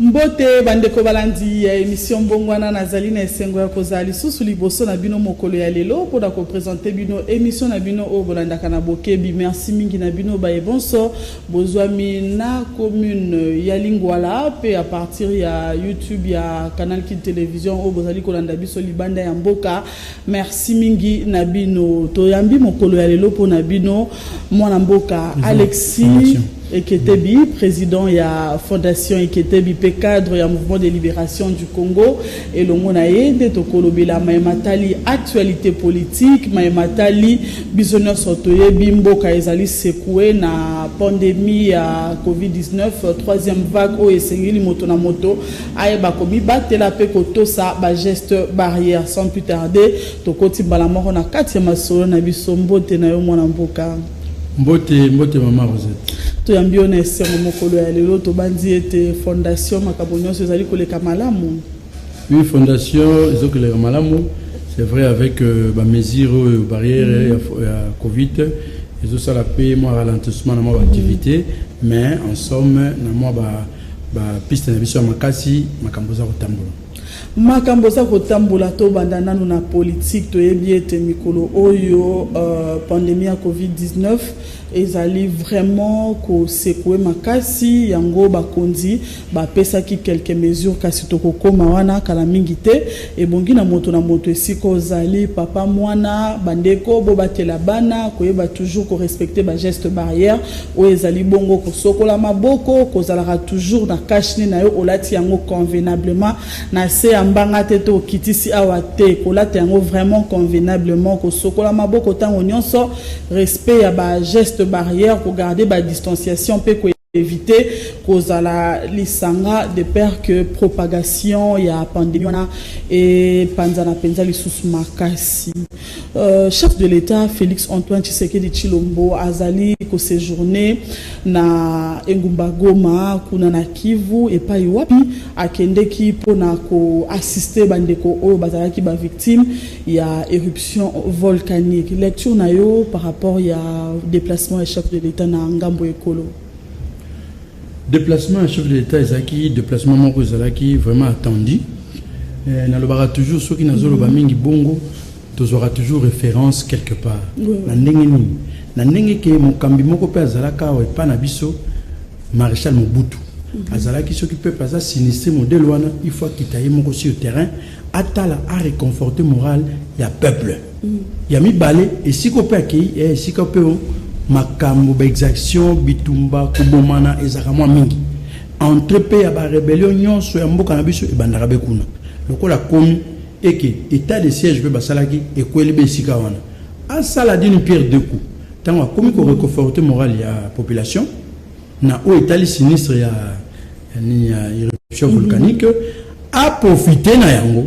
Mbote ba ndeko balandi ya emission Mbongwana, nazali na esengo ya kozala lisusu liboso na bino mokolo ya lelo mpo na ko presenter bino emission na bino oyo bolandaka na bokebi. Merci mingi na bino baye bonso bozwami na commune ya Lingwala mpe à partir ya YouTube ya Canal Kin Television oyo bozali kolanda biso libanda ya mboka. Merci mingi na bino toyambi mokolo ya lelo mpo na bino mwana mboka Alexis Eketebi, président ya Fondation Eketebi pe cadre ya Mouvement de Libération du Congo elongo na ye nde tokolobela maye matali actualité politique, maye matali biso nyonso toyebi mboka ezali sekoue na pandemie ya COVID-19 troisième vague oyo esengeli moto na moto Ayeba komibatela mpe kotosa ba gestes barrières. Sans plus tarder, tokoti mbala moko na kati ya masolo na biso. Mbote na yo mwana mboka. Mbote, mbote mama Rosette. Toyambi yo na esengo mokolo ya lelo, tobanzi ete fondation makambo nyonso ezali koleka malamu. Oui, fondation ezali koleka malamu. C'est vrai avec euh, ba mesures oyo barrière mm -hmm. ya, ya Covid ezosala mpe mwa ralentissement na mwa ba activité mm -hmm. mais en somme na mwa ba ba piste na biso ya makasi makambo eza kotambola makambo eza kotambola tobanda nano na politike toyebi ete mikolo oyo uh, pandemie ya covid-19 ezali vraiment kosekue makasi yango bakonzi bapesaki quelques mesures kasi tokokoma wana kala mingi te Ebongi na moto na moto esika ozali, papa, muana, bandeko, bobatela bana koyeba toujours ko respecter ba gestes barrières oyo ezali bongo kosokola maboko, kozalaka toujours na cache nez na yo olati yango convenablement na se ya mbanga te to okitisi awa te, kolata yango vraiment convenablement, kosokola maboko tango nionso, respect ya ba gestes barrières, ko garder ba distanciations mpe ko. eviter kozala lisanga de peur que propagation ya pandemie wana epanzana mpenza lisusu makasi. Euh, chef de l'État Félix Antoine Tshisekedi Tshilombo azali kosejourne na engumba Goma kuna na Kivu epai wapi akendeki mpo na koassiste bandeko oyo bazalaki bavictime ya eruption volcanique lecture na yo par rapport ya déplacement ya chef de l'État na ngambo ekolo déplacement ya chef de l'État ezalaki déplacement moko ezalaki vraiment attendu eh, nalobaka toujours soki nazoloba mm-hmm. mingi bongo tozwaka toujours référence quelque part na ndenge nini na ndenge ke mokambi moko mpe azalaka awa epa na biso maréchal mobutu Mhm. azalaki soki peuple aza sinistre modele wana il faut akita ye moko sur terrain atala a reconforter morale ya peuple mm. ya mibale esika mpe akei eh, esika mpe oh, makambo baexaction bitumba kobomana ezalaka mwa mingi entre mpe ya barebelio nyonso ya mboka na biso ebandaka be kuna lokola komi eke etat de siège mpe basalaki ekweli be esika wana asala dine pierre de coup ntango akomi koreconforte morale ya population Na oyo etali sinistre ya nini ya eruption volcanique a profiter na yango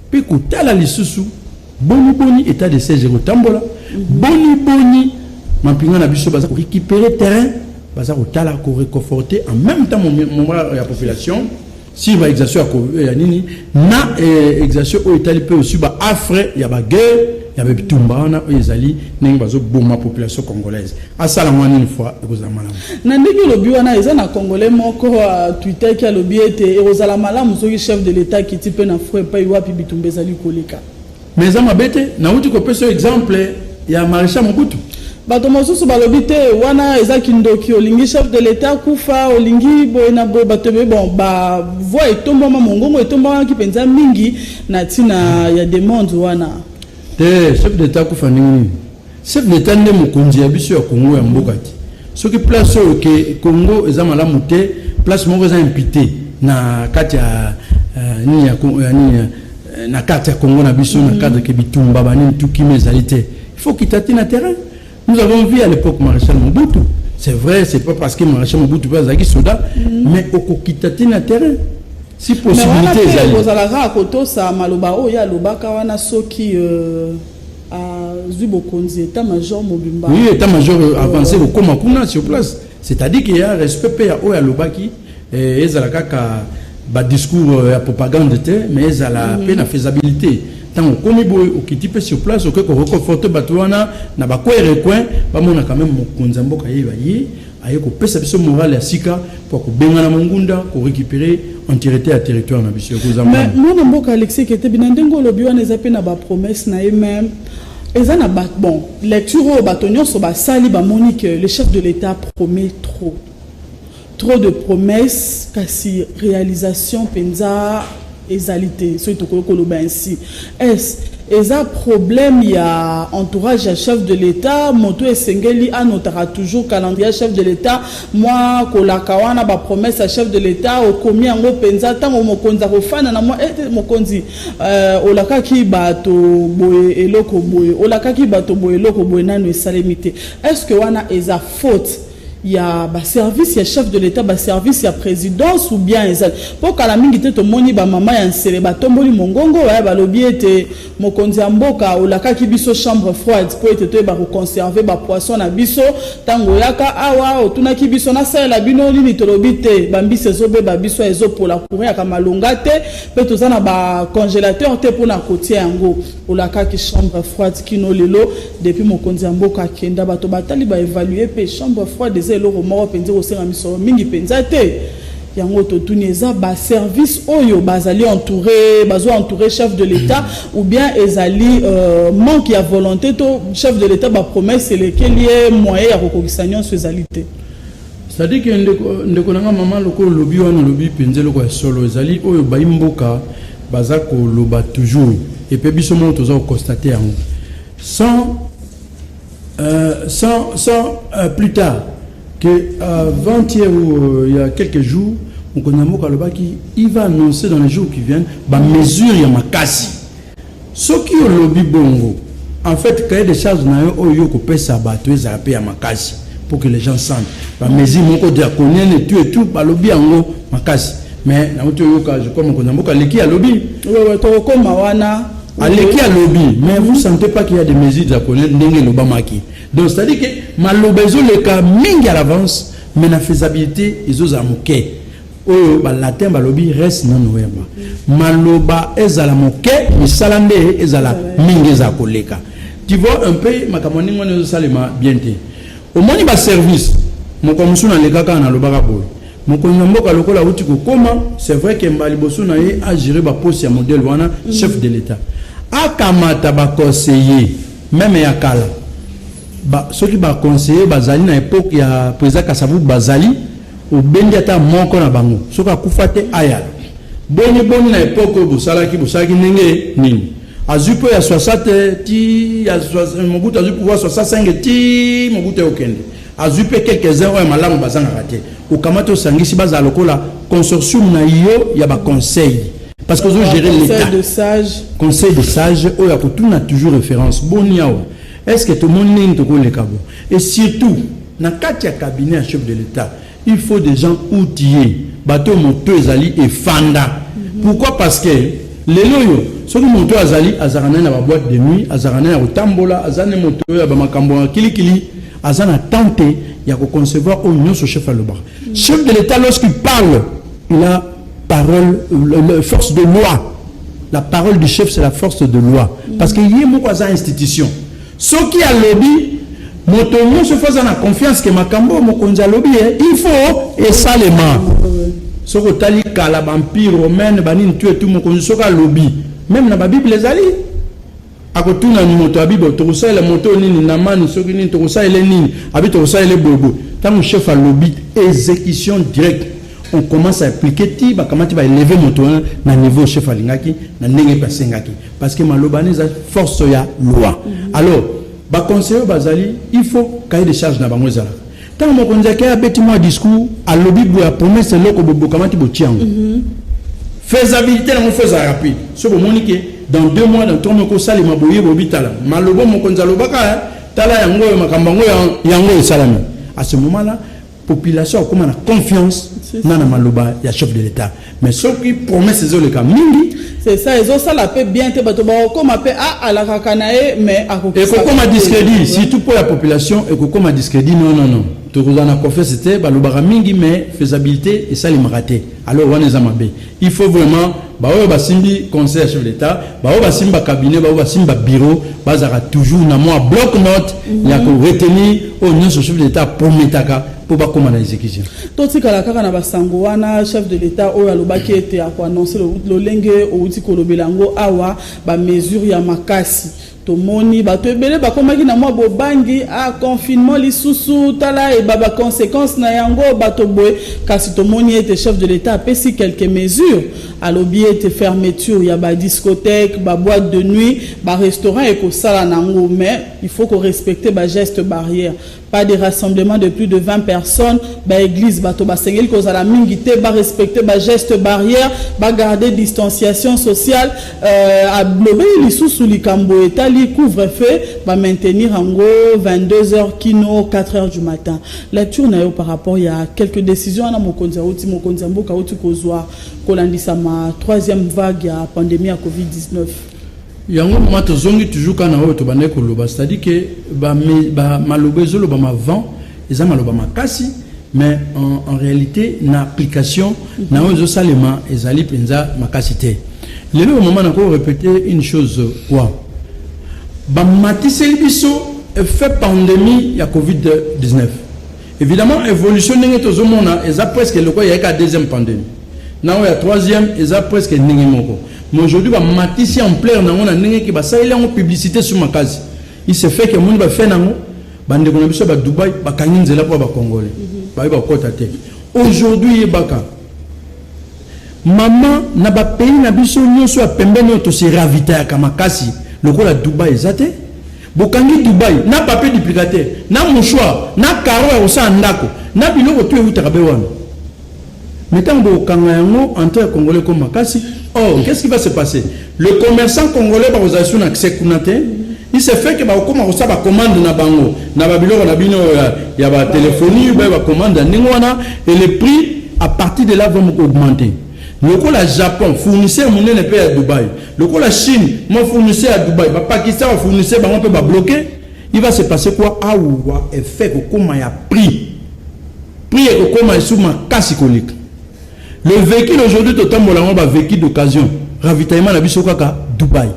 mpe kotala lisusu boni boni etat de siège ekotambola boni boni mampinga na biso baza korecupere terrain baza kotala koreconforte en même temps moral ya population sur ba exactions ya ko ya nini na eh, exaction oyo etali mpe sur ba affre ya ba guerre ya ba bitumba wana oyo ezali ndenge bazoboma population congolaise asala mwa nini fois ekozala malamu na ndenge olobi wana eza na congolais moko atwitaki alobi ete ekozala malamu soki chef de l'etat akiti mpe na fro epai wapi bitumba ezali koleka Mais eza mabe te, nawuti kopesa yo exemple ya Marechal Mobutu. Bato mosusu balobi te wana eza kindoki, olingi chef de l'Etat akufa, olingi boye na boye, bato ebele. Bon, ba voix etombwama, mongongo etombwamaki mpenza mingi na ntina ya demande wana. Te, chef d'Etat akufa ndenge nini? Chef d'etat nde mokonzi ya biso ya Congo ya mboka te. Soki place oyo ke Congo eza malamu te, place moko eza impite na kati ya euh, nini ya euh, nini euh, na kati ya Congo na biso na cadre ke bitumba ba nini tout kimia ezali te. Il faut kita ti na terrain. Nous avons vu à l'époque Maréchal Mobutu. C'est vrai, c'est pas parce que Maréchal Mobutu pas azaki soda, mm. mais okokita ti na terrain. Si possibilité ezali. Mais wana pe ozalaka kotosa maloba oyo ya lobaka wana soki euh... azwi bokonzi etat major mobimba oui etat major euh, avance euh, kokoma kuna sur place c'est-à-dire qu'il y a respect mpe ya oyo alobaki eh, ezala kaka badiscours euh, ya propagande te mais ezala mpe mhm. na faisabilité ntango okomi boye okiti mpe sur place okoki koreconforte bato wana na bacoin recoin bamonaka meme mokonzi ya mboka ye baye Aye kopesa biso morale ya sika mpo ya kobengana mongunda, ko recuperer entirete ya territoire na biso. Ekozanga Mais nini? mwana mboka Alexis Ketebi na ndenge olobi wana eza mpe na ba promesses na ye meme eza na ba bon lecture oyo bato nyonso basali bamoni que le chef de l'Etat promet trop trop de promesses kasi realisation mpenza Ezali te soki tokoki koloba ainsi. Est-ce eza problème ya entourage ya chef de l'Etat? Moto oyo esengeli a notaka toujours calendrier ya chef de l'Etat, mwa kolaka wana, ba promesses ya chef de l'Etat okomi yango penza? Tango mokonzi akofanda na mwa, eh mokonzi euh olakaki bato boye eloko boye, olakaki bato boye eloko boye nanu esalemi te. Est-ce que wana eza faute? ya ba service ya chef de l'etat ba service ya presidence ou bien eza po kala mingi te tomoni ba mama ya nsele batomboli mongongo baya balobi ete mokonzi ya mboka olakaki biso chambre froide po ete toyeba koconserve ba poisson na biso ntango oyaka awa otunaki biso nasalela bino nini tolobi te bambisi ezobeba biso ezopola courant yaka malonga te pe toza na ba congelateur te mpona kotia yango Olakaki chambre froide kino lelo depuis mokonzi ya mboka akenda bato batali ba evaluer pe chambre froide eza eloko moko mpenza ekosenga misolo mingi mpenza te yango totuni eza ba service oyo bazali entouré bazo entouré chef de l'état ou bien ezali euh, manque ya volonté to chef de l'état ba promesse elekeli ye moyen ya kokokisa nyonso ezali te Cetadire que ndeko, ndeko na nga mama loko olobi wana olobi penza eloko ya solo ezali oyo bayi mboka baza koloba toujours et pe biso moko toza koconstate yango sans euh, sans, sans euh, plus tard que avant-hier ou euh, il y a quelques jours mokonzi ya mboka alobaki il va annoncer dans les jours qui viennent bamesure ya makasi Soki olobi bongo, en fait cahier de charge na yo oyo oko pesa batu ezala pe ya makasi pour que les gens sentent ba mesures moko draconiennes et tout et tout, balobi yango makasi mais nawuti oyoka je crois mokonzi ya mboka aleki alobi. Wewe tokokoma wana. Aleki alobi mais vous sentez pas qu'il y a des mesures draconiennes ndenge elobamaki? Donc c'est à dire que maloba ezoleka mingi à l'avance mais na faisabilite ezozala moke. Oyo ba latin balobi res non verba, maloba ezala moke misala nde ezala mingi, ezala koleka. Tu vois un peu makambo ndenge wana ezosalema bien te. Omoni ba service mokolo mosusu nalekaka nalobaka boye mokonzi ya mboka lokola auti kokoma, c'est vrai que mba liboso na ye agere baposi ya modele wana chef de l'etat akamata baconseiller meme ya kala ba, soki baconseiller bazali na epoke ya président Kasavubu bazali Obendi ata moko na bango soki akufa te ayala boni boni na epoque oyo bosalaki bosalaki ndenge nini azwi po ya 60 ti ya mobutu azwi pouvoir 65 ti mobutu eokende azwi mpe quelques uns oyo ya malamu bazangaka te okamati osangisi bazala lokola consortium na yo ya baconseil parce que ozogere l'état conseil de sage oyo akotuna toujours référence boni awa est ce que tomoni ndenge tokoleka bo et surtout Na kati ya cabinet ya chef de l'etat il faut des gens outiller bato oyo moto ezali efanda pourquoi parce que lelo oyo soki moto oyo azali azalaka naye na ba boîte de nuit azalaka naye ya kotambola aza ne moto oyo ya bamakambo ya kilikili aza na temps te ya koconcevoir oyo nyonso chef alobaka chef de l'etat lorsqu'il parle il a parole le, le, force de loi la parole du chef c'est la force de loi parce que ye moko aza institution Soki alobi moto nyoso faut aza na confiance que makambo oyo mokonzi alobi ye il faut esalema. Soki otali kala ba empire romaine ba nini tu et tu mokonzi soki alobi meme na ba bible ezali akotuna ni moto ya bible tokosalela moto oyo nini na mani soki nini tokosalela nini abi tokosalela boyeboye ntango chef alobi exécution directe on commence à appliquer ti bakamati ba eleve moto wana na niveau chef alingaki na ndenge mpe asengaki parce que maloba neza force ya loi mm -hmm. alors ba conseiller bazali il faut cahier de charge na bango ezala tant mon conseiller a abeti moi discours à lobi boya promesse loko bobokamaki botia yango mm -hmm. faisabilité nango faut ezala rapide so bomoni ke dans deux mois dans trois mois kosalema boye bobitala malobo mokonzi alobaka eh, tala yango oyo makambo yango yango esalami à ce moment là population akoma na confiance na na maloba ya chef de l'etat mais soki promesse ezoleka mingi c'est ça ezosala mpe bien te bato bakokoma mpe ah, alakaka na ye mais ekokoma discrédit surtout mpo ya population ekokoma discrédit non non non tokozala na confiance te balobaka mingi mais faisabilité esalemaka te alors wana eza mabe Il faut vraiment ba oyo ba simbi conseil ya chef d'etat, ba oyo ba simbi ba cabinet, ba oyo ba simbi ba bureau, ba zaka toujours na moi bloc note mm -hmm. ya ko retenir au oh, nionso chef d'etat prometaka pour ba koma na execution. To tikala kaka na ba sango wana chef de l'etat oyo alobaki ete ako annoncer lolenge outi kolobela ngo awa ba mesure ya makasi. Tomoni bato ebele bakomaki na mwa bobangi, ah confinement lisusu, tala et ba consequences na yango, bato boye. Kasi tomoni ete chef de l'Etat apesi quelques mesures. Alobi ete fermeture ya ba discothèques, ba boites de nuit, ba restaurants ekosala na yango mais il faut ko respecter ba gestes barrières. Pas de rassemblement de plus de 20 personnes, ba eglise bato basengeli kozala mingi te, ba respecter ba gestes barrières, ba garder distanciation sociale, euh, alobeli lisusu likambo etali couvre-feu, ba maintenir yango 22 heures kino 4 heures du matin. Lecture na yo par rapport ya quelques décisions wana mokonzi auti mokonzi ya mboka auti kozwa kolandisama troisième vague ya pandemie ya Covid-19. Yango mama tozongi toujours kaka na oyo tobandaki koloba c'est à dire que ba, ba maloba ezolobama avant eza maloba makasi mais en, en réalité na application na oyo ezosalema ezali mpenza makasi te lelo mama nako répéter une chose quoi bamatiseli biso effet pandémie ya covid-19 Evidemment evolution ndenge tozo mona eza presque lokola ya ka deuxième pandemie na oyo ya troisième eza presque ndenge moko mais aujourd'hui ba matisi ampleur na ngo na ndenge ki ba sali yango publicité sur makazi il se fait que moni ba fait nango ba ndeko na biso ba Dubaï ba kangi nzela pour ba congolais mhm. ba ba kota te aujourd'hui yebaka maman na ba pays na biso nyoso ya pembeni to se ravitailler kama kasi lokola Dubaï ezate Bokangi Dubai na papier duplicateur, na mouchoir, na carreaux ya kosala ndako, na biloko tout ewutaka be wana. Mais tango bokokanga yango, entree ya Congolais ekomi makasi. Or, qu'est-ce qui va se passer? Le commerçant Congolais bakozala lisusu na accès kuna te. Il se fait que bakokoma kosala ba commandes na bango na ba biloko na bino ya, ya ba telephonie, ba commandes ya ndenge wana et le prix à partir de là va augmenter. Lokola Japon, fournisseur munene pe ya Dubai. Lokola Chine, mwa fournisseur ya Dubai. Ba Pakistan ba fournisseurs bango pe ba bloquer. Il va se passer quoi? Awa effet ekokoma ya prix. Prix ekokoma lisusu makasi koleka. Le vehicule aujourd'hui totambola yango ba vehicule d'occasion. Ravitaillement na biso kaka Dubai.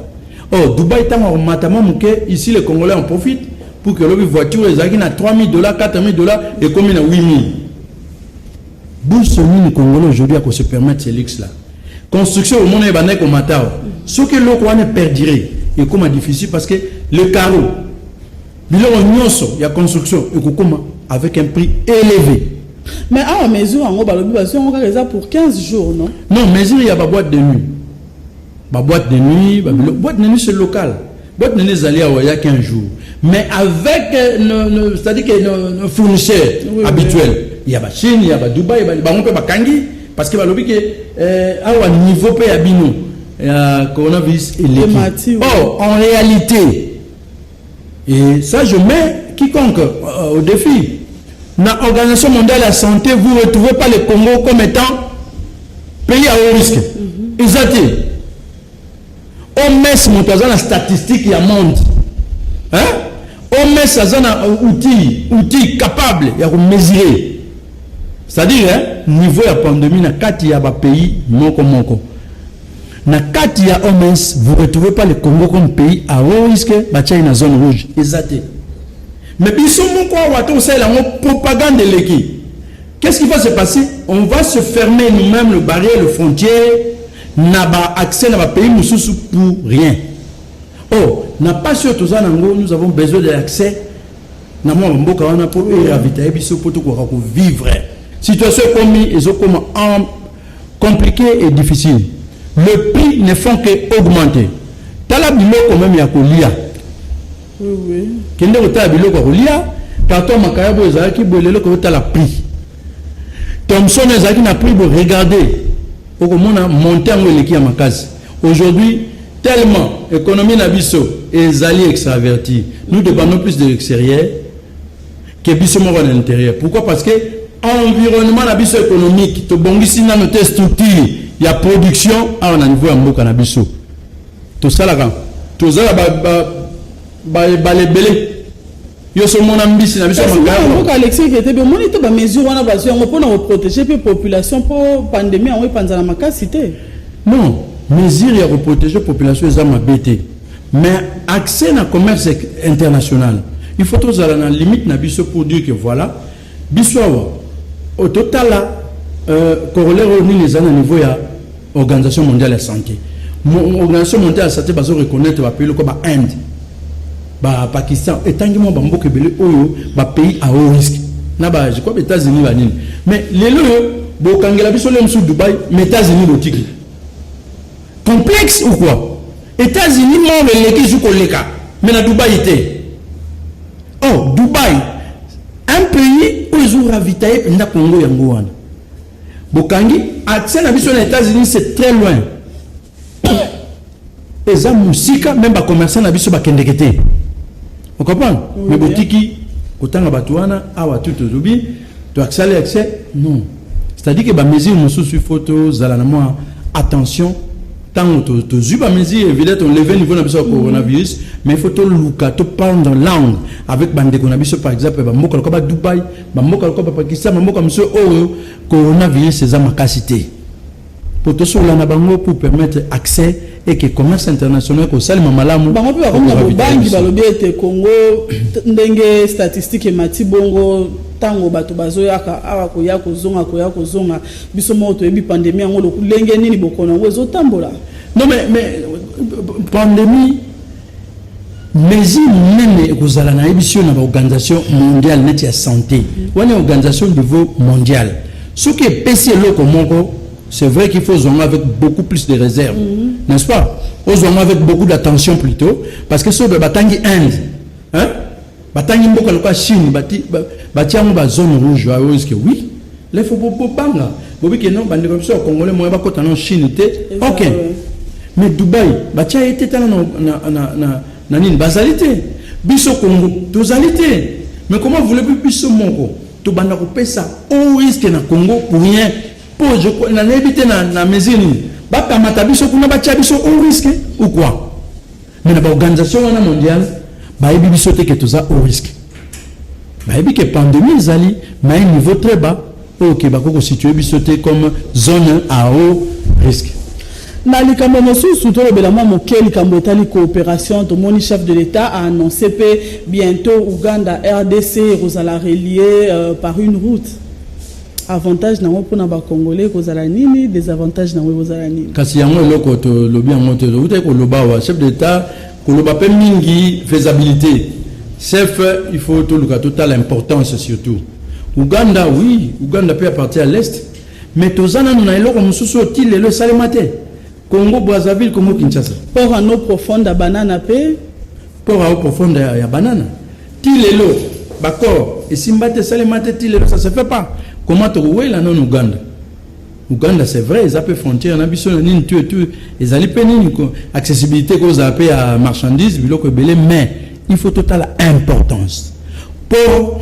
Oh, Dubai tango akomata mwa moke, ici les Congolais en profitent pour que lobi voiture ezalaki na 3000 dollars, 4000 dollars ekomi na 8000. Bourse nini congolais aujourd'hui ako se permettre ce luxe là? Construction au monde ebandaki ko matao. Ce que loko wana perdurer et comme difficile parce que le carreau biloko nyonso ya construction ekokoma avec un prix élevé. Mais awa mesure yango balobi bazwi yango kaka eza pour 15 jours non? Non, mesure ya ba boîte de nuit Ba boîte de nuit, ba bilo, boîte de nuit c'est local. Boîte de nuit ezali awa ya qu'un jour. Mais avec euh, nos, nos c'est-à-dire que nos, nos fournisseurs oui, habituels, oui. il y a ba Chine, il y a ba Dubaï, ba bango pe ba kangi parce que ba lobi que euh, awa niveau pe ya bino ya coronavirus eleki. Oh, en réalité Et ça je mets quiconque euh, au défi. Na Organisation mondiale ya santé, vous retrouvez pas le Congo comme étant pays à haut risque. Mhm. Eza te. OMS moto aza na statistique ya monde. Hein? OMS aza na outil, outil capable ya ko mesurer c'est-à-dire hein, niveau ya pandémie na kati ya ba pays moko moko. Na kati ya OMS vous retrouvez pas le Congo comme pays à haut risque batia ye na zone rouge eza te mais biso moko awa tokosalela yango propagande eleki qu'est-ce qui va se passer on va se fermer nous-mêmes le barrière le frontière na ba accès na ba pays mosusu pour rien oh na pasi oyo toza nango nous avons besoin de l'accès na mwa bamboka wana mpo eravitaye biso mpo tokoka kovivre situation ekomi ezokoma complique et difficile le prix ne font que augmenter tala biloko meme ya kolia kende kotala biloko ya kolia carton makaya boyo ezalaki boye lelo kotala prix thomson ezalaki na prix boye regarde okomona monte yango eleki ya makasi aujourd'hui tellement économie na biso ezali extraverti nous dépendons plus de l'extérieur que biso moko na interieur pourquoi parce que environnement na biso économique tobongisi nano te structure ya production awa na niveau ya mboka na biso tosalaka tozala baebale ebele yo so mona mbisi na biso mboka alexis ketebe omoni te bamesure wana bazwi yango mpo na koprotege mpe population mpo pandemie yango epanzana makasi te non mesure ya koprotege population eza mabe te Mais accès na commerce international, il faut tozala na limite na biso pour dire que voilà, biso awa oh, totala euh, corollaire oyo nini eza na niveau ya organisation mondiale ya santé. Organisation mondiale ya santé bazo reconnaître ba pays lokola ba Inde, ba Pakistan, etangi mwa ba mboka ebele oyo ba pays à haut risque. Na ba je crois ba États-Unis ba nini. Mais lelo yo bokangela biso le msu Dubaï, mais États-Unis botiki. Complexe ou quoi? Etats unis mall eleki zu koleka mais na Dubaï te oh Dubaï un pays oyo ezo ravitailler mpenza Congo yango wana bokangi accès na biso na Etats unis c'est très loin eza mosika meme bacommerçant na biso bakendeke te okomprendre mais botiki kotanga bato wana awa tu tolobi toaksali accès non C'est à dire que ba mesures mususu il faut to zala na moi attention tango to to zui ba mesures évidemment on lever niveau na biso ya coronavirus mais il faut to luka to prendre langue avec bande ko na biso par exemple ba mboka lokola ba Dubaï ba mboka lokola ba Pakistan ba mboka mususu oyo coronavirus eza makasi te po tosolola na bango pour permettre accès et que commerce international ekosalema malamu. Bango mpe bakomi na bobangi, balobi ete Congo ndenge statistique emati bongo ntango bato bazoyaka awa koya kozonga koya kozonga biso moko toyebi pandemie yango lokulenge nini bokono yango ezotambola. Non mais, mais pandemie Mesure munene ekozala na yebisi yo na ba organisation mondiale neti ya sante wana organisation niveau mondial soki epesi eloko moko c'est vrai qu'il faut zonga avec beaucoup plus de réserve mm -hmm. n'est-ce pas ozonga avec beaucoup d'attention plutôt parce que soki batangi Inde hein Batangi mboka lokola Chine bati bati yango ba zone rouge ba oyo que oui là faut bobanga bobi que non bandeko biso ya congolais moya bakota na Chine te ok mais Dubaï batia ye te tala na na na na nini bazali te biso Congo tozali te mais comment voulez-vous biso moko tobanda kopesa au risque na Congo pour rien po je na nayebi te na na mesure nini bakamata biso kuna batia biso au risque ou quoi Mais na ba organisation wana mondiale bayebi biso te ke toza au risque. Bayebi ke pandemie ezali mais un niveau très bas oyo ke bakoki kositue biso te comme zone à haut risque. Na likambo mosusu tolobela mwa moke likambo etali coopération tomoni chef de l'État a annoncé pe bientôt Ouganda RDC ekozala relier euh, par une route. Avantage nango pona ba congolais ekozala nini? Desavantage nango ekozala nini? Kasi yango eloko tolobi yango te, tokutaki koloba wa chef d'etat koloba mpe mingi faisabilité chef, il faut toluka totala importance surtout Ouganda, oui Ouganda mpe aparti à l'est mais toza nanu na eloko mosusu oyo ti lelo esalema te Congo Brazzaville, Congo Kinshasa. Port à eau profonde ya banana mpe port à eau profonde ya banana Ti lelo b'accord esimba te, esalema te ti lelo ça se fait pas. Comment toko wela non Ouganda? Ouganda c'est vrai eza pe frontière na biso na nini tu et tu ezali pe nini ko accessibilité ko za pe ya marchandise biloko ebele mais il faut totala importance pour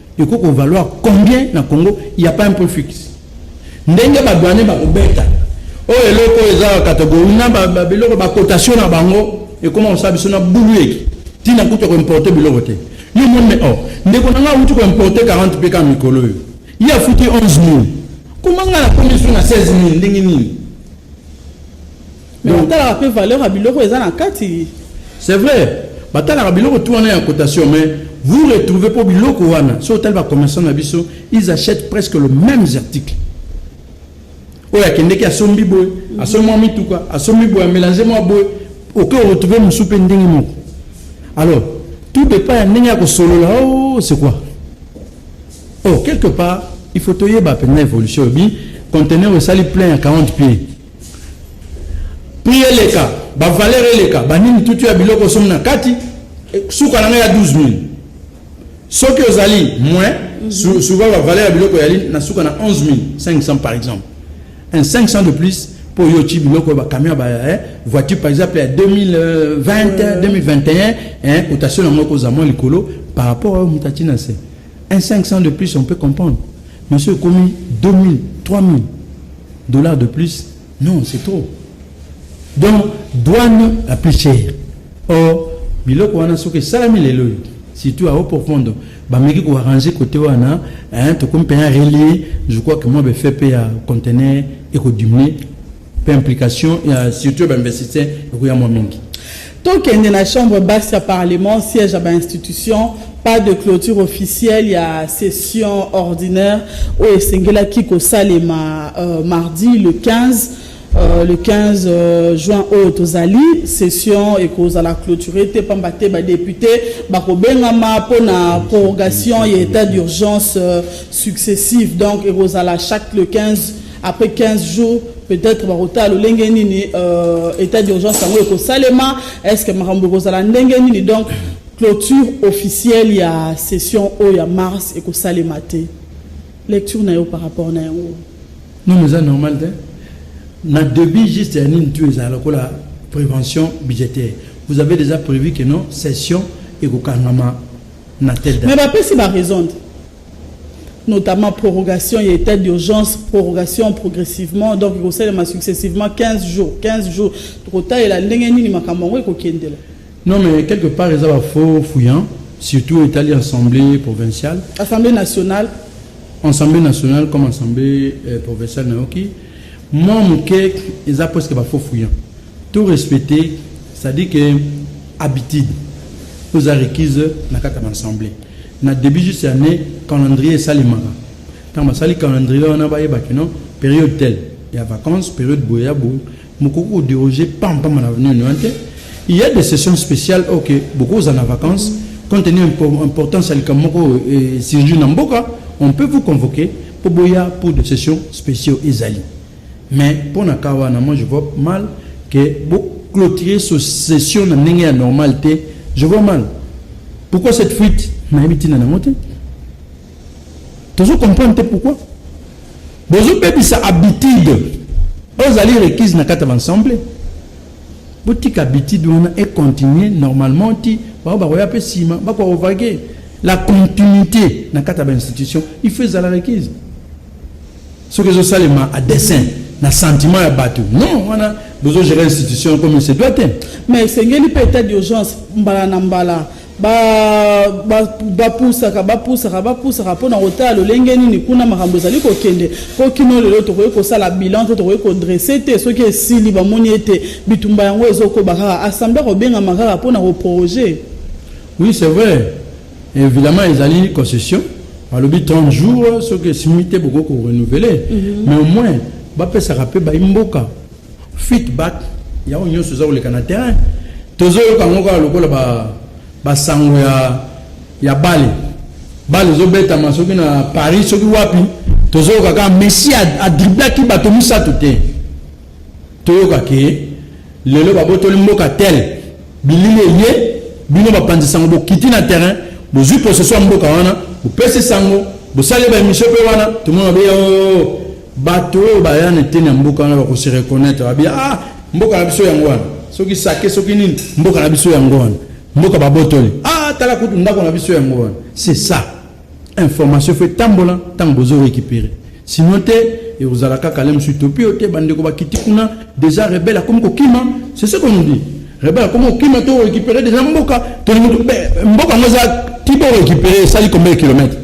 Eko ko valoir combien na Congo? Il n'y a pas un prix fixe. Ndenge ba douaniers ba kobeta oyo eloko eza categorie na ba biloko ba cotation na bango ekoma kosala biso na bulu eki ntina kutu ya koimporte biloko te yo moni me or oh, ndeko na ngai auti koimporte 40 mpe kaka mikolo oyo ye afuti 11 000 koma ngai nakomi biso na 16 000 ndenge nini Mais batalaka pe valeur ya biloko eza na kati. C'est vrai, batalaka biloko tout wana ya cotation mais vous retrouvez po biloko wana soki otali ba commerçants na biso ils achètent presque le même article. Oyo akendeki asombi boye, asombi mwa mituka, asombi boye, amelange mwa boye, oke retrouver mosusu pe ndenge moko. Alors, tout dépend ya ndenge ya kosolola, oh c'est quoi? Oh, quelque part, il faut toyeba mpenza evolution obi conteneur esali plein ya 40 pieds prix eleka ba valeur eleka banini tutu ya biloko somi na kati eh, suka na ngai ya 12000 soki ozali moins mm -hmm. souvent ba valeur ya biloko yali na suka na 11500 par exemple un 500 de plus mpo yo otyi biloko ya bacamion ba eh, voiture par exemple ya 2020 2021 eh, cotation yango ekozala mwa likolo par rapport oyo moto atyi na se Un 500 de plus on peut comprendre mais soki ekomi 2000 3000 dollars de plus non c'est trop donc douane la plus chère or biloko wana soki esalami lelo oyo surtout à haut profondo bameki koarrange kote wana tokomi mpenza relie je crois que mwa befepe ya contener ekodiminue Pe implication ya surtout ya ba investisseurs ekoya mwa mingi. Tokende na chambre basse ya parlement, siège ya ba institutions, pas de clôture officielle ya session ordinaire oyo esengelaki kosalema euh, mardi le 15 Euh, le 15 euh, juin oyo tozali session ekozala clôture te mpamba te badepute bakobengama mpo na prorogation ya état d'urgence euh, successive donc ekozala chaque le 15 Après 15 jours, peut-être bakotala lolenge nini euh, état d'urgence yango ekosalema, est-ce que makambo ekozala ndenge nini? Donc clôture officielle ya session oyo ya mars ekosalema te. Lecture na yo par rapport na yango. Non, mais ça normal te. Na début juste ya nini tu ezala lokola prévention budgétaire. Vous avez déjà prévu que non session ekokangama na telle date. Mais bapesi ba raison te. notamment prorogation ya etat d'urgence prorogation progressivement donc ekosalema successivement 15 jours 15 jours tokotalela ndenge nini makambo yango ekokendela non mais quelque part eza bafaux fouillant surtout etali assemblée provinciale assemblée nationale assemblée nationale comme assemblée euh, provinciale nayoki mwa moke eza presque bafaux fouillant tout respecter c'est-à-dire que habitude oza requise na kati ya baassemblée Na debut juste ya annee calendrier esalemaka tango basali calendrier wana bayeba que non periode telle ya vacances periode boye ya boye mokoki ko deroger pam pam na avenue nini wana te il ya des sessions spéciales oyo ke bokoki kozala na vacances compte tenu importance ya likambo moko oyo esurgir na mboka on peut vous convoquer mpo boya mpo de sessions spéciaux ezali Mais pona cas wana moi je vois mal que bo cloturer ce session na ndenge ya normal te je vois mal pourquoi cette fuite nayebi ntina nango te tozo comprendre te pourquoi bozobebisa habitude oyo ezali requise na kati ya baensemble botika habitude wana econtinue normalement ti bao bakoya mpe nsima bakoka kovage la continuité na kati ya bainstitution il faut ezala requise soki ezo salema a dessin na sentiment ya batu non wana bozo gérer institution comme il se doit te mais esengeli mpe état d'urgence mbala na mbala bapusaka bapusaka bapusaka mpo na kotala lolenge nini kuna makambo ezali kokende mpo kino lelo tokoki kosala bilan te tokoki kodresse te soki esili bamoni ete bitumba yango ezokoba kaka assemble akobengama kaka mpo na koproje oui c'est vrai Evidemment ezali concession balobi 30 jours soki esimbi te bokoki ko renouveler mhm. mais au moins bapesaka mpe bayi mboka feedback yango nyonso eza koleka na terrain tozoyoka yango kaka lokola basango ya, ya bale bale ezobetama soki na paris soki wapi tozoyoka kaka messi adriblaki bato misato te Toyoka ke lelo babotoli mboka tel bilili eye bino bapanzi sango bokiti na terrain bozwi possession ya mboka wana bopesi sango bosali ba emission mpe wana tomona beya oh, oh, oh. bato oyo baya na eteni ya mboka wana bakose reconnaitre babia ah mboka na biso yango wana soki sake soki nini mboka na biso yango wana mboka babotoli ah tala kutu ndako na biso yango wana c'est ça Information faut etambola ntango bozo recuperer sinon te ekozala kaka le mosusu topi yo te bandeko bakiti kuna deja rebele akomi kokima c'est ce qu'on nous dit rebele akomi kokima to recuperer deja mboka tolingi mboka yango eza ti bo recuperer esali combien de kilomètre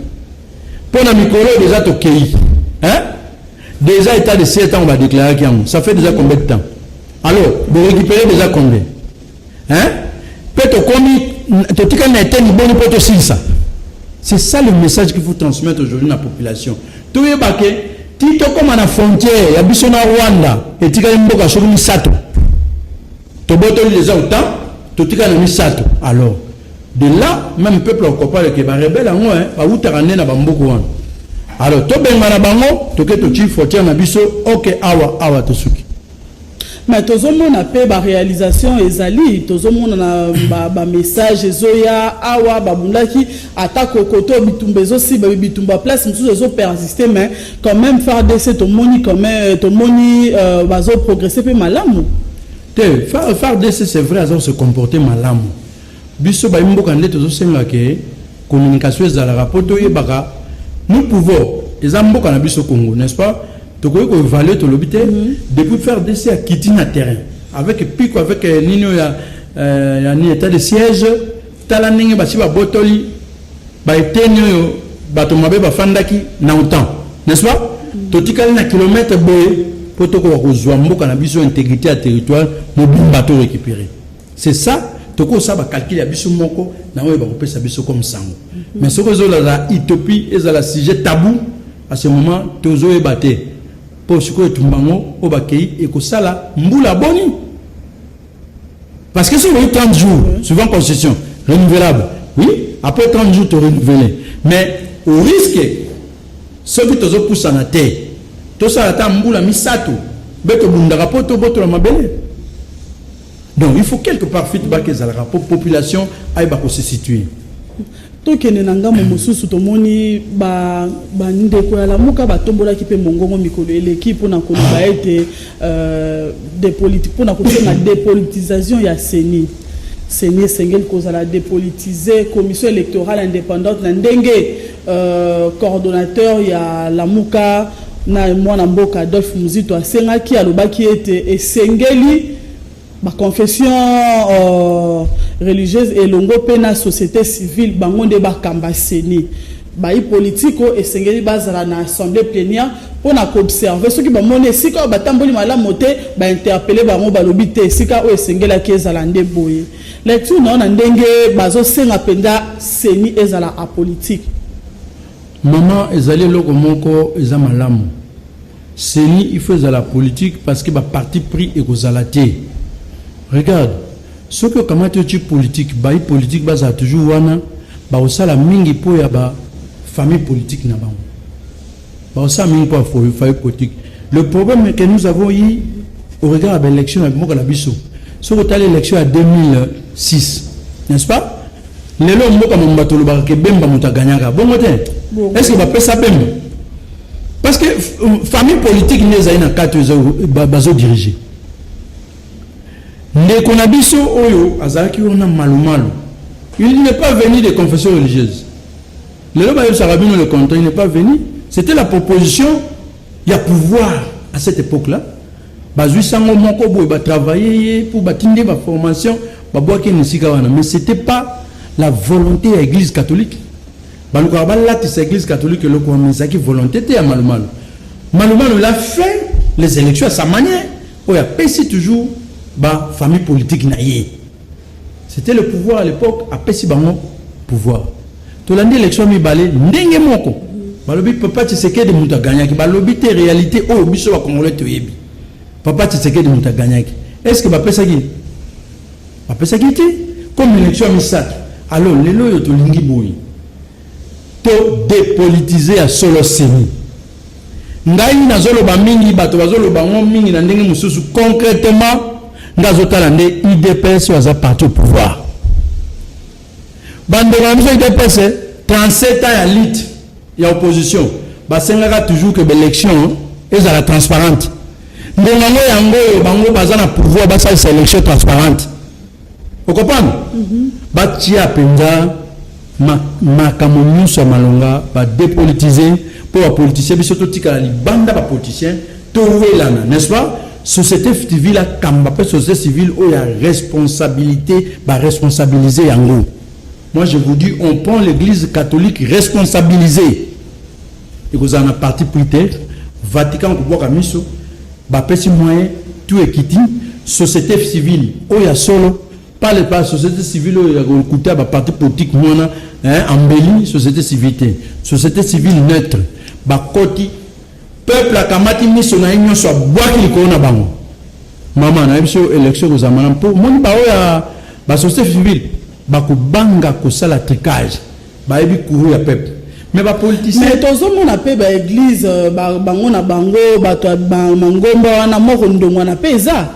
mpo na mikolo oyo deja tokei hein déjà état de siège ntango badéclaraki yango ça fait déjà combien de temps alors borécupere déjà combien hein pe tokomi totikali na eteni boni mpo tosilisa c'est ça le message qu'il faut transmettre aujourd'hui na population toyeba ke ti tokóma na frontière ya biso na rwanda etikali mboka soki misato tobotoli les autant totikali na misato alors de là même peuple akopale ke barebele yango hein, bawutaka nde na bamboka wana alors tobengana bango toke totii frontière na biso oke awa awa tosuki Mais tozo mona pe ba realisation ezali tozo mona na ba, ba message ezoya awa babundaki ata kokoto bitumba ezosiba bitumba place mosusu ezo persiste mais quand même FARDC tomoni quand même tomoni euh, bazo progresser pe malamu te FARDC c'est vrai azo se comporter malamu Biso bayi mboka nde tozo senga ke communication ezalaka po toyebaka nous pouvons eza mboka na biso Congo n'est-ce pas tokoki ko evaluer tolobi te mhm. depuis faire DC à kiti na terrain avec piko avec euh, nini oyo ya euh, ya ni état de siège tala ndenge basi babotoli baeteni oyo bato mabe bafandaki na otan n'est-ce pas mhm. totikali na kilomètre boye mpo tokoka kozwa mboka na biso integrité ya territoire mobimba to récupérer C'est ça, toko sa ba calcul ya biso moko na oyo bako pesa biso comme sango. Mais ce que zola la utopie et la sujet tabou à ce moment tozo e batte. Po siko etumbango o bakei et ko sala mbula boni. Parce que si vous 30 jours suivant constitution renouvelable. Oui, après 30 jours tu renouveler. Mais au risque ce que tozo poussa na terre. Tout ça la ta mbula misato. Beto bundaka po to boto la mabele. Donc il faut quelque part feedback ezalaka pour population ayeba ko se situer. tokende na ngambo mosusu tomoni bandeko ya lamuka batombolaki mpe mongongo mikolo eleki mpona koloba ete euh, mpona kosenga dépolitisation ya ceni ceni esengeli kozala dépolitise commission électorale indépendante na ndenge Coordonnateur ya Lamuka na mwana mboka Adolphe Muzito asengaki, alobaki ete esengeli ba confessions religieuses elongo mpe na societe civile bango nde bakamba ceni. Bayi politiki oyo esengeli bazala na assemblee plenière mpo na ko observer soki bamoni esika oyo batamboli malamu te, ba interpeller bango, balobi te esika oyo esengelaki ezala nde boye. Lecture na yo na ndenge bazo senga penza ceni ezala apolitique. Maman ezali eloko moko eza malamu. Ceni il faut ezala politique parce que ba parti pris ekozala te. Regarde soki okamati otie politique bayi politique bazala toujours wana bakosala mingi po ya ba famille politique na bango. Bon, ça mine quoi, faut, faut politique. Le problème que nous avons eu au regard de l'élection avec Moka Nabiso, c'est que l'élection à 2006, n'est-ce pas lelo mboka mwa bato olobaka ke bemba moto aganyaka bongo te est ce que bapesa bemba parce que euh, famille politique nde ezali na kati bazodirige ndeko na biso oyo azalaki wana malumalu il n'est pas venu de confession religieuse Lelo bayebisaka bino le contraire, il n'est pas venu. C'était la proposition ya pouvoir à cette époque-là. Bazui sango moko boye ba travailler ye pour batinde ba formation ba boaki musika wana mais c'était pas la volonté ya église catholique. Balukaka balatisa église catholique eloko wana ezalaki volonté te ya malumalu. Malumalu l'a fait les élections à sa manière oyo apesi toujours ba famille politique na ye. C'etait le pouvoir à l'epoque apesi bango pouvoir. Tolandi election mibale ndenge moko. Balobi papa Tshisekedi mutu aganyaki. Balobi te réalité oyo biso ba congolais toyebi. Papa Tshisekedi mutu aganyaki. Est-ce que bapesaki bapesaki te comme election misato. Alors lelo oyo tolingi boye. To depolitiser ya solo ceni. Ngai nazoloba mingi, bato bazoloba ngo mingi na ndenge mosusu. Concretement, nga azotala nde udps aza parti au pouvoir. Bandeko na biso udps 37 ans ya lutte ya opposition basengaka toujours que b'élection ezala transparente. Ndenge yango yango oyo bango baza na pouvoir basalisa élection transparente. Okompana? mm -hmm. batia mpenza makambo nyonso ya malonga badepolitise mpo bapolitisien biso totikala libanda bapolitisien towelana n'est-ce pas société civile akamba mpe société civile oyo ya responsabilité baresponsabilise yango moi je vous dis on prend l'église catholique responsabilisée Ekozala na parti pris te. Vatican kobwaka miso, bapesi moyen tout ekiti. Societe civile oyo ya solo pale pa société civile oyo ya kokuta ba parti politique mwana eh, embelli société civile te. Société civile neutre bakoti peuple akamati miso na ye nyonso abwaki likolo na bango mama nayebi so élection ekozala malamu mpo omoni baoyo ya basociété civile bakobanga kosala tricage Bayebi courroux ya peuple. Mais ba politiciens mais tozo mona pe ba église euh, ba bango na bango bato ya mangomba wana moko ndongwana pe eza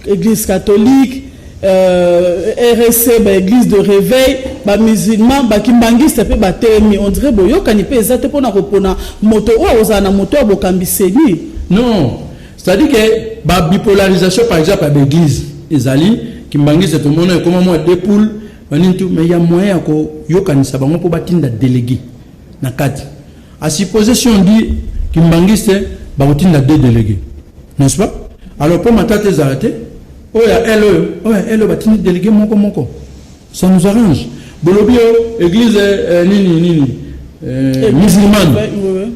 église catholique euh, RSC ba église de réveil ba musulman ba kimbanguiste pe ba temi on dirait boyokani pe eza te pona kopona moto oyo ozala na moto ya bokambi seni non c'est à dire que ba bipolarisation par exemple ya ba église ezali kimbanguiste tomona ekoma mwa deux poules banini tu mais ya moyen ya koyokanisa bango mpo batinda delege na kati a supposer si on dit kimbangiste bakotinda deux delege n'est-ce pas alors mpo matata ezala te oyo ya ele oyo oyo ya ele batindi delege moko moko ça nous arrange bolobi yo église euh, nini nini euh, musulmane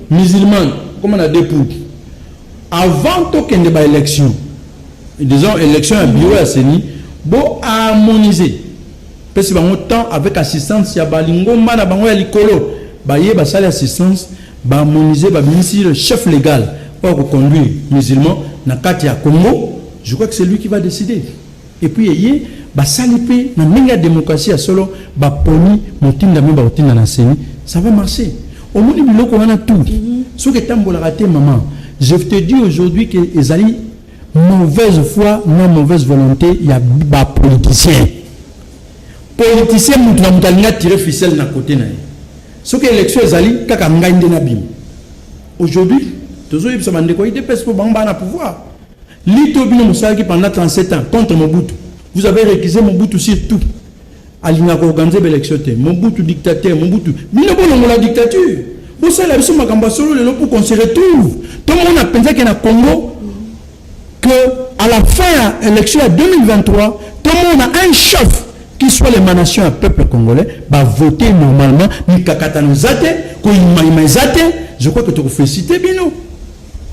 musulmane koma na deux poudre Avant to kende ba election, disons election ya bureau ya CENI, bo harmoniser pesi bango temps avec assistance ya balingomba na bango ya likolo baye basali assistance ba harmoniser babimisi le chef legal oyo akoconduire musulman na kati ya Congo je crois que c'est lui qui va décider Et puis eye basali pe na ndenge ya democratie ya solo ba poni motindami ba kotinda na ceni ça va marcher omoni biloko wana tout soki etambolaka te maman je te dis aujourd'hui que ezali mauvaise foi na mauvaise volonté ya ba politiciens politicien mutu na mutu alingi atire ficelle na kote na ye soki élection ezali kaka ngai nde nabima aujourd'hui tozoyebisa bandeko ya idps mpo bango baa na pouvoir Lutte oyo bino mosalaki pendant 37 ans contre Mobutu, vous avez recusé Mobutu sur tout. Alingaka koorganize ba election te. Mobutu dictateur, Mobutu. Bino bolongola dictature. Bosala biso makambo ya solo lelo pour qu'on se retrouve. Tomona penza ke na Congo que à la fin ya election ya 2023, tomona un chef qui soit l'émanation ya peuple congolais ba voter normalement mikakatano eza te, koyimayima eza te. Je crois que tokofélicite bino.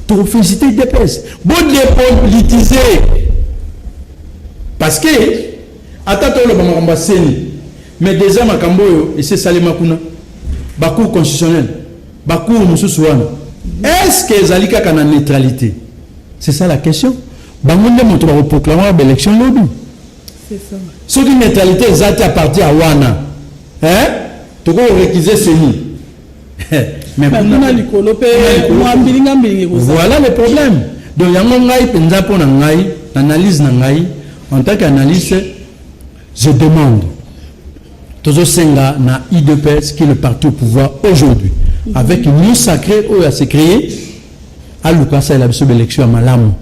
To felicite udps bo depolitise parce que ata toloba makambo ya seni mais deja makambo oyo esi esalema kuna bacour constitutionnel bacour mosusu wana est ce que ezali kaka na neutralité c'est ça la question bango nde moto bakoproclame ya baélection lobi soki neutralité eza te apartir ya wana tokoki korekize seni mais kuna likolo pe mwa mbilinga mbilinga ekozala voilà le problème donc yango ngai mpenza mpo na ngai na analyse na ngai en tant qu'analyste je demande tozosenga na idps qui est le parti au pouvoir aujourd'hui avec une sacrée oyo ase créer aluka asalela biso ba election ya malamu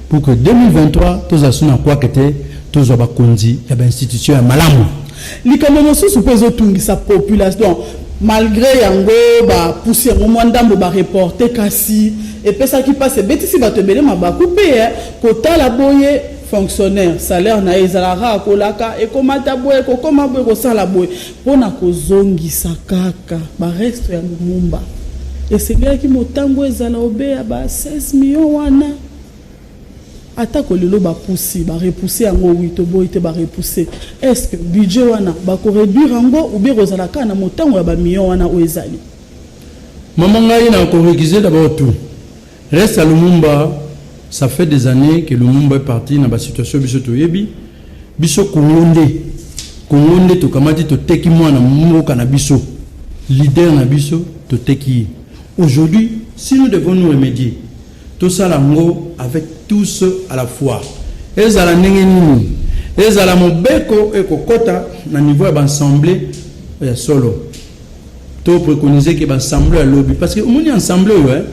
pour que 2023 tozala so na kwaka te tozwa bakonzi ya bainstitution ya malamu likambo mosusu mpe ezotungisa population donc malgré yango bapusi yango mwa ndambo bareporte kasi epesaki mpasi ebetisi bato ebele mabaku mpe eh, kotala boye fonctionnaire salaire na ye ezalaka akolaka ekomata boye kokoma boye kosala boye Mpo na kozongisa kaka baresto ya Lumumba, esengelaki motango ezala obe ya ba 16 millions wana. Atako lelo bapusi, ba repousser yango, oui, toboyi te, ba repousser. Est ce que budget wana bako reduire yango ou bien ekozala kaka na motango ya ba millions wana oyo ezali? Maman ngai na ko recuser d'abord tout. Reste à Lumumba ça fait des annees que Lumumba est parti na ba situation biso toyebi biso Congo nde Congo nde tokamati toteki mwana mboka na biso leader na biso toteki ye aujourd'hui si nous devons nous remédier tosala yango avec tous à la fois ezala ndenge nini ezala mobeko ekokota na niveau ya baassemblée ya solo To preconiser que ba ensemble ya lobi parce que omoni ensemble oyo hein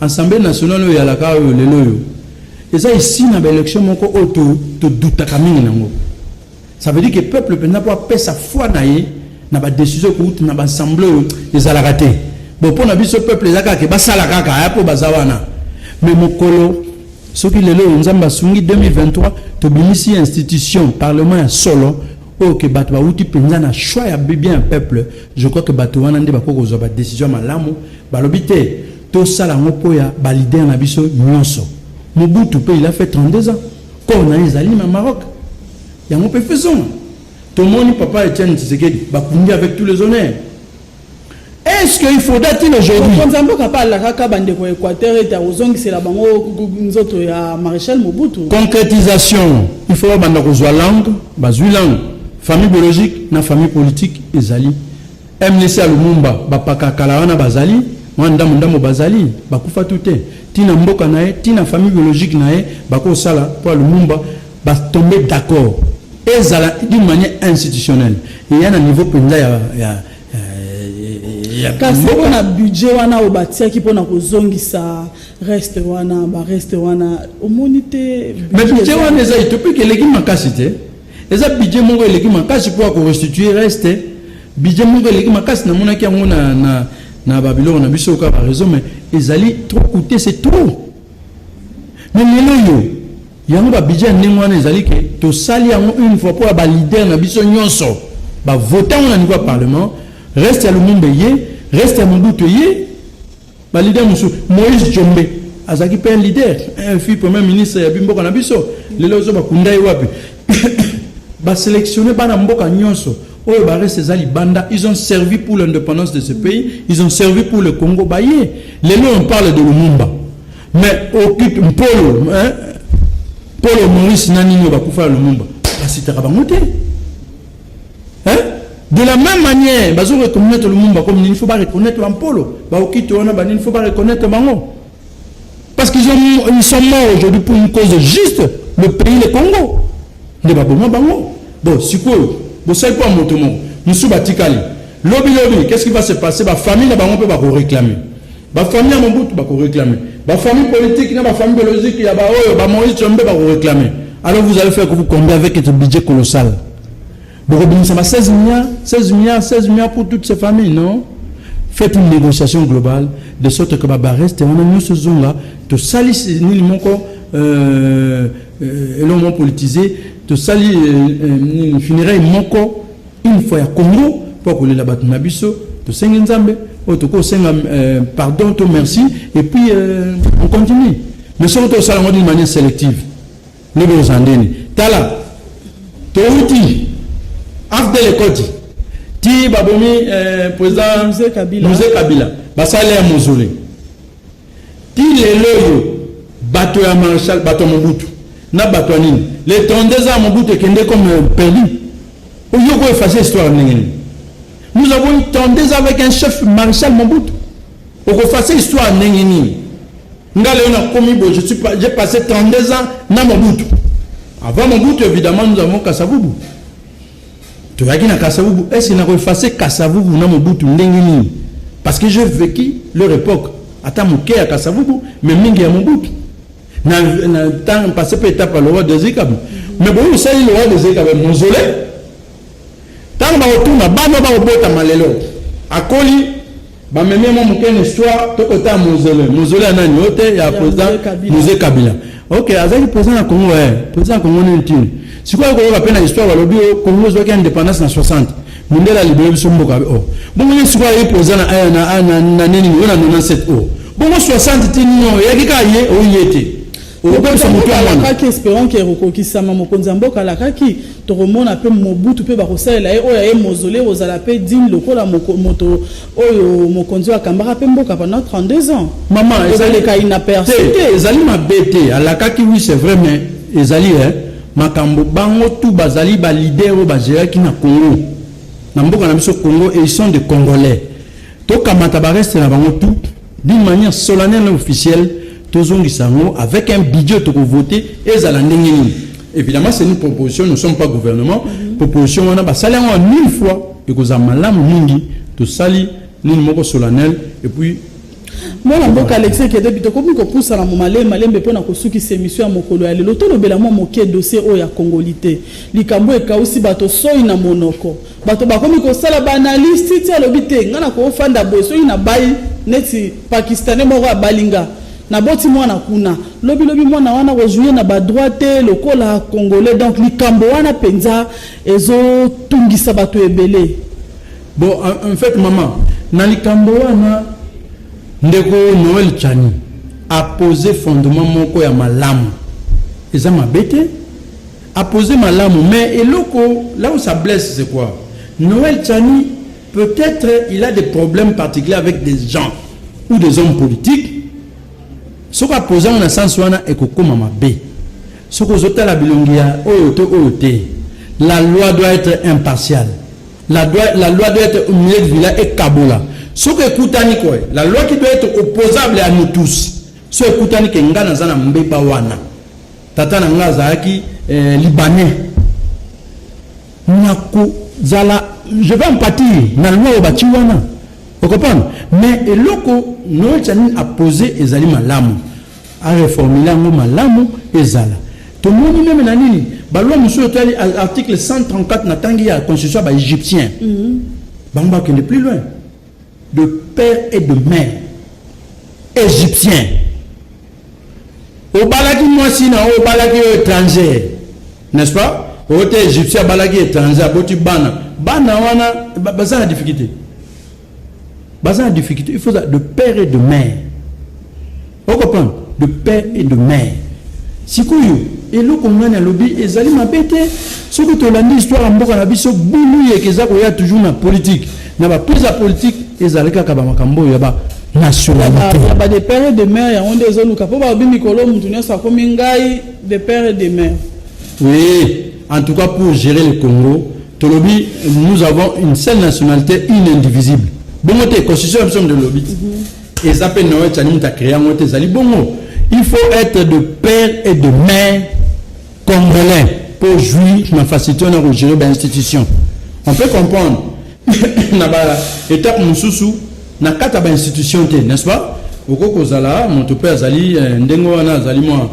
ensemble nationale oyo yalaka oyo lelo oyo eza esi na ba election moko oyo to to doutaka mingi nango ça veut dire que peuple penza po apesa foi na ye na ba décision ko na ba ensemble oyo ezalaka te bon pona biso peuple eza kaka basala kaka ya po baza wana mais mokolo soki lelo oyo nzambe asungi 2023 tobimisi institution parlement ya solo Oyo que bato bawuti penza na choix ya bien ya peuple, je crois que bato wana nde bakoki kozwa ba decision ya malamu. Balobi te, tosala yango mpo ya ba leader na biso nionso. Mobutu mpe il a fait 32 ans, corps na ye ezali na Maroc. Yango mpe faisons. Tomoni papa Etienne Tshisekedi, bakundi avec tous les honneurs. Est ce que il faudra ti aujourd'hui Mokonzi ya mboka mpe alakaka bandeko ya Equateur ete akozongisela bango nzoto ya Marechal Mobutu. Concretisation, il faut babanda kozwa langue, bazwi langue, famille biologique na famille politique ezali. MNC ya Lumumba bapaka kala wana bazali, mwa ndambo ndambo bazali, bakufa tu te. Tina mboka na ye, tina famille biologique na ye bakosala mpo ya Lumumba Ba tomber d'accord ezala d'une manière institutionnelle eya na niveau mpenza ya, ya, ya kasi mpo na budget wana oyo batiaki mpo na kozongisa reste wana bareste wana omoni te mais budget wana eza etopiki eleki makasi te eza budget moko eleki makasi mpo ya korestitue reste budget moko eleki makasi namonaki yango na, na, na babiloko na biso kaka bareseau mais ezali trop coûte c'est trop mais lelo yo Yango ba budget ya ndenge wana ezali ke tosali yango une fois mpo ya ba leader na biso nyonso ba vota yango na niveau ya parlement reste ya lumumba eye reste ya mobutu eye ba leader mosusu moïse jombe azalaki mpe un leader un fille premier ministre ya bimboka na biso lelo ozo bakunda ye wapi baselectionne bana mboka nyonso oyo bareste eza libanda ils ont servi pour l'indépendance de ce pays ils ont servi pour le congo baye lelo on parle de lumumba Mais occupe Mpolo, hein? Polo Maurice na nini bakufa ya Lumumba basitaka bango te hein? de la même manière bazo reconnaître Lumumba comme nini faut ba reconnaître ba Mpolo ba okito wana ba nini faut ba reconnaître bango parce qu'ils ont ils sont morts aujourd'hui pour une cause juste le pays le Congo nde baboma bango bon sikoyo bosali mpo ya moto moko mosusu batikali lobi lobi qu'est ce qui va se passer bafamille na bango mpe bakoreklame Ba famille ya Mobutu bako reclamer. Ba famille politique na ba famille biologique ya ba oyo ba Moïse Tshombe bako reclamer. Alors vous allez faire que vous combien avec ce budget colossal. Boko bimisa ba 16 milliards, 16 milliards, 16 milliards pour toutes ces familles, non? Faites une négociation globale de sorte que ba bareste wana nyoso zonga to salis nini moko euh, euh, elongo politisé to sali euh, euh, funérailles moko Une fois ya Congo po ya kolela bato na biso tosengi Nzambe oyo tokoki kosenga euh, pardon to merci et puis euh, on continue mais soki tosala yango d'une manière sélective nde bokozala ndeni tala touti afdel ekoti ti babomi euh, président muse kabila basala ya mozole ti lelo oyo bato ya marshal bato ya mobutu na bato ya nini le 32 ans ya mobutu ekende comme perdu Au lieu ko effacer histoire ndenge nini? Nous avons eu 32 ans avec un chef Marshal Mobutu. Oko effacer histoire ndenge nini? Nga leo na komi bo je suis j'ai passé 32 ans na Mobutu. Avant Mobutu évidemment nous avons Kasavubu. Toyaki na Kasavubu, est-ce na ko effacer Kasavubu na Mobutu ndenge nini? Parce que j'ai vécu leur époque. Ata moke ya Kasavubu mais mingi ya Mobutu. na na temps passé pe etapa le roi de Zikab mais bon ça il le roi de Zikab mausolée tant ba otuna bana ba obota malelo akoli ba meme mo mukene histoire to kota mausolée mausolée nani ote ya président musée Kabila ok azaki président na Congo eh président Congo nini tini sikoyo koyoka pe na histoire balobi Congo zwaki indépendance na 60 Mundele alibere biso mboka be oh. Bongo ye sikoyo aye poza na aya na na na nini yo na 97 oh. Bongo 60 ti nini oh. Yaki ka ye oh yete. Obebisa moto ya mwana. Kaki esperant que rokokisama mokonzi ya mboka alakaki tokomona pe mobutu pe bakosalela ye oyo aye mozole kozala pe digne lokola moto oyo mokonzi oyo akambaka pe mboka pendant 32 ans. Mama ezaleka inaperçu te. Ezali mabe te alakaki oui c'est vrai mais ezali eh Makambo bango tout bazali ba leader oyo ba geraki na Congo na mboka na biso Congo et ils sont des congolais tokamata ba reste na bango tout d'une manière solennelle et officielle tozongisa yango avec un budget toko voter ezala ndenge nini évidemment c'est une proposition nous sommes pas gouvernement mhm. proposition wana basali yango en mille fois ekozala malamu mingi tosali nini moko solennel et puis Mwana mboka Alexis Kedebi, tokomi kopusana mo malembe malembe mpo na kosukisa emission ya mokolo ya lelo. Tolobela mwa moke dossier oyo ya Congolite, likambo oyo ekausi bato soyi na monoko. Bato bakomi kosala ba analyses, Tshitshi alobi te, nga nakofanda boye, soki nabayi neti Pakistanais moko abali nga, naboti mwana kuna, lobi lobi mwana wana ako jouir na ba droits te lokola Congolais. Donc likambo wana penza ezo tungisa bato ebele. Bon, en fait, maman, na likambo wana ndeko Noël Chani a posé fondement moko ya malamu. Eza mabe te. A posé malamu, mais eloko là où ça blesse c'est quoi? Noël Chani peut-être il a des problèmes particuliers avec des gens ou des hommes politiques. Soki a posé na sens wana ekokoma mabe. Soki ozotala bilongi ya oyo to oyo te. La loi doit être impartiale. La loi, la loi doit être milieu de villa et kabola. Ce que ekutani quoi, la loi qui doit être opposable à nous tous. Ce que ekutani que nga naza na mbeba wana. Tata na nga azalaki eh, libanais. Nako zala je vais en pâtir na loi au bati wana. Vous comprenez Mais eloko Noël Tchanin a posé ezali malamu. A reformuler yango malamu ezala. Tomoni meme na nini? Ba lois mosusu oyo etali article 134 na tangi ya constitution ya ba egyptiens. Bango bakende plus loin. De père et de mère egyptiens. Obalaki mwasi na yo, obalaki yo etranger. N'est-ce pas? Oyo te egyptien abalaki etranger, aboti bana. Bana wana baza na difficulté. baza na difficulté il faut ça de père et de mère o comprendre de père et de mère sikoyo eloko ngani alobi ezali mabe te soki tolandi histoire ya mboka na biso bulu yeke eza koya toujours na politique na baprise ya politique ezali kaka bamakambo oyo ya ba nationalité ya ba de père et de mère yango nde ezoluka mpo balobi mikolo motu nyonso akomi ngai de père et de mère oui en tout cas pour gérer le congo Tolobi nous avons une seule nationalité, une indivisible. Bongo te constitution ya biso nde lobi. Mhm. Eza pe Noé Tchani muta créer yango te ezali bongo. Il faut être de père et de mère congolais pour jouir na facilité na ko gérer ba institutions. On peut comprendre na ba étape mususu na kata ba institution te, n'est-ce pas? Oko kozala moto pe azali eh, ndengo wana azali mwa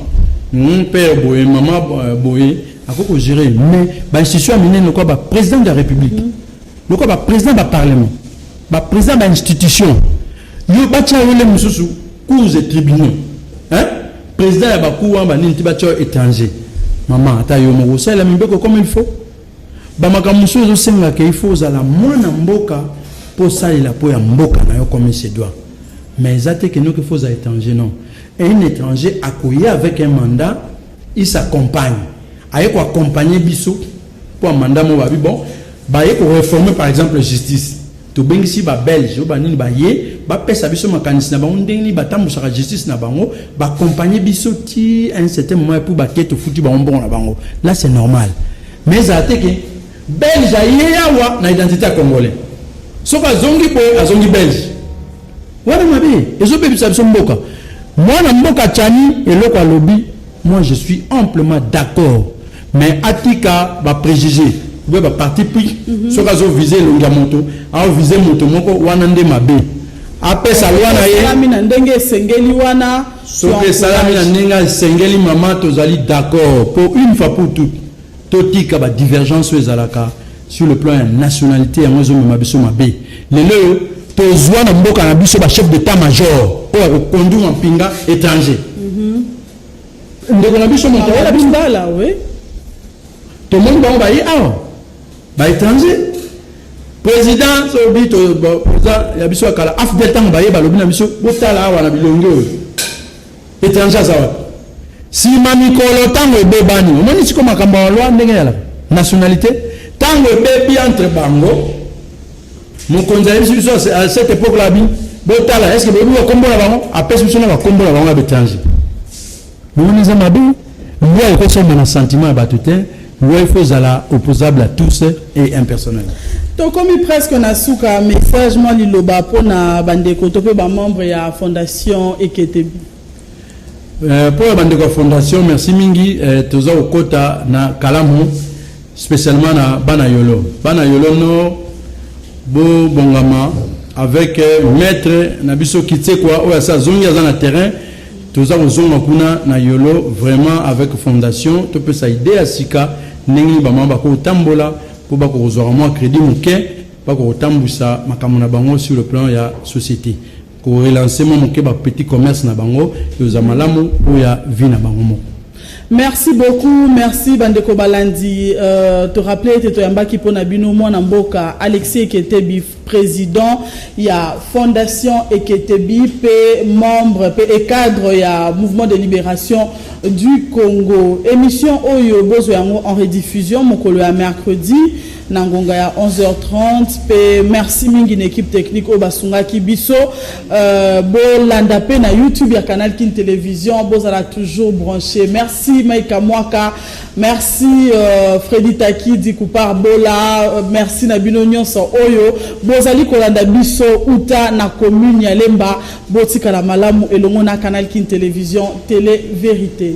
hmm, père boye mama eh, boye akoki ko gérer mais ba institution ya minene lokola ba président de la république mm -hmm. lokola ba président ba parlement ba président ba institution yo batya yo le mosusu cours et tribunaux hein président ya bacour wana banini ti batya yo étranger mama ata yo moko osalela mibeko comme il faut bamakambo mosusu ezosengaka il faut ozala mwana mboka mpo osalela mpo ya mboka na yo comme se doit mais eza te kenoki fo ozala étranger non un étranger akoya avec un mandat Il s'accompagne aye ko accompagner biso mpo ya mandat moko babi bon baye ko reformer par exemple justice tobengisi ba belge oyo banini baye bapesa biso makanisi na bango ndenge nini batambusaka justice na bango ba accompagner biso ti à un certain moment epuis bake tofuti bango mbongo na bango là c'est normal mais ezala te ke belge aye awa na identité ya congolais soki azongi boye azongi belge Wana mabe ezo bebisa biso mboka. Mwana mboka Tshani eloko alobi, moi je suis amplement d'accord mais atika ba prejugés oubien ba parti pris mm -hmm. soki azo vise elongi ya moto ao vise moto moko wana nde mabe apesa loi na ye esalami na ndenge esengeli wana soki esalami na ndenge esengeli mama tozali d'accord pour une fois pour toute Totika ba divergences oyo ezalaka sur le plan ya nationalite, yango ezomema biso mabe. Lelo oyo tozwa na mboka na biso ba chef d'état major oyo akokonduire mampinga étranger. Mhm. Ndeko na biso moto ayela bimbala, oui. Tomoni bango baye awa ba étranger président sobi toza ya biso ya kala afdel ntango baye balobi na biso botala awa na bilongi oyo Etranger aza wapi? Sima mikolo tango ebebani. Omoni siko makambo ya loi ndenge yala nationalité tango ebebi entre bango mokonzi ayebisi biso à cette époque là bi botala est-ce que boyebi bakombo na bango apesi biso na bakombo na bango ya betranger. Bomoni eza mabe. Loi ekosomba na sentiment ya bato te, loi faut ezala opposable à tous et impersonnel. Tokomi presque na suka, message mwa liloba mpo na bandeko to mpe bamembre ya fondation Eketebi. Mpo euh, ya bandeko ya fondation, merci mingi, euh, toza kokota na kalamu specialement na bana yolo bana yolo no bo bongama avec euh, maître na biso kitsekwa oyo asi azongi aza na terrain toza kozonga kuna na yolo vraiment avec fondation topesa idée ya sika ndenge nini bamama bakotambola mpo bakokozwaka mwa crédit moke bakokotambwisa makambo na bango sur le plan ya société ko relancer mwa moke ba petit commerce na bango ekozala malamu mpo ya vie na bango moko Merci beaucoup, merci Bandeko Balandi. Euh, te rappeler que Toyambaki Pona Bino, moi Namboka, Alexis Eketebi, président, il y a Fondation Eketebi, P, membre, P et cadre, il y a Mouvement de Libération du Congo. Émission Oyo Bozo Yango en rediffusion, Mokolo à mercredi. na ngonga ya 11h30 pe merci mingi na equipe technique oyo basungaki biso euh, bolanda pe na youtube ya canal kin télévision bozala toujours branché merci maika mwaka merci euh, fredi takidi kupar bola euh, merci na bino nyonso oyo bozali kolanda biso uta na commune ya lemba botikala malamu elongo na canal kin télévision télé vérité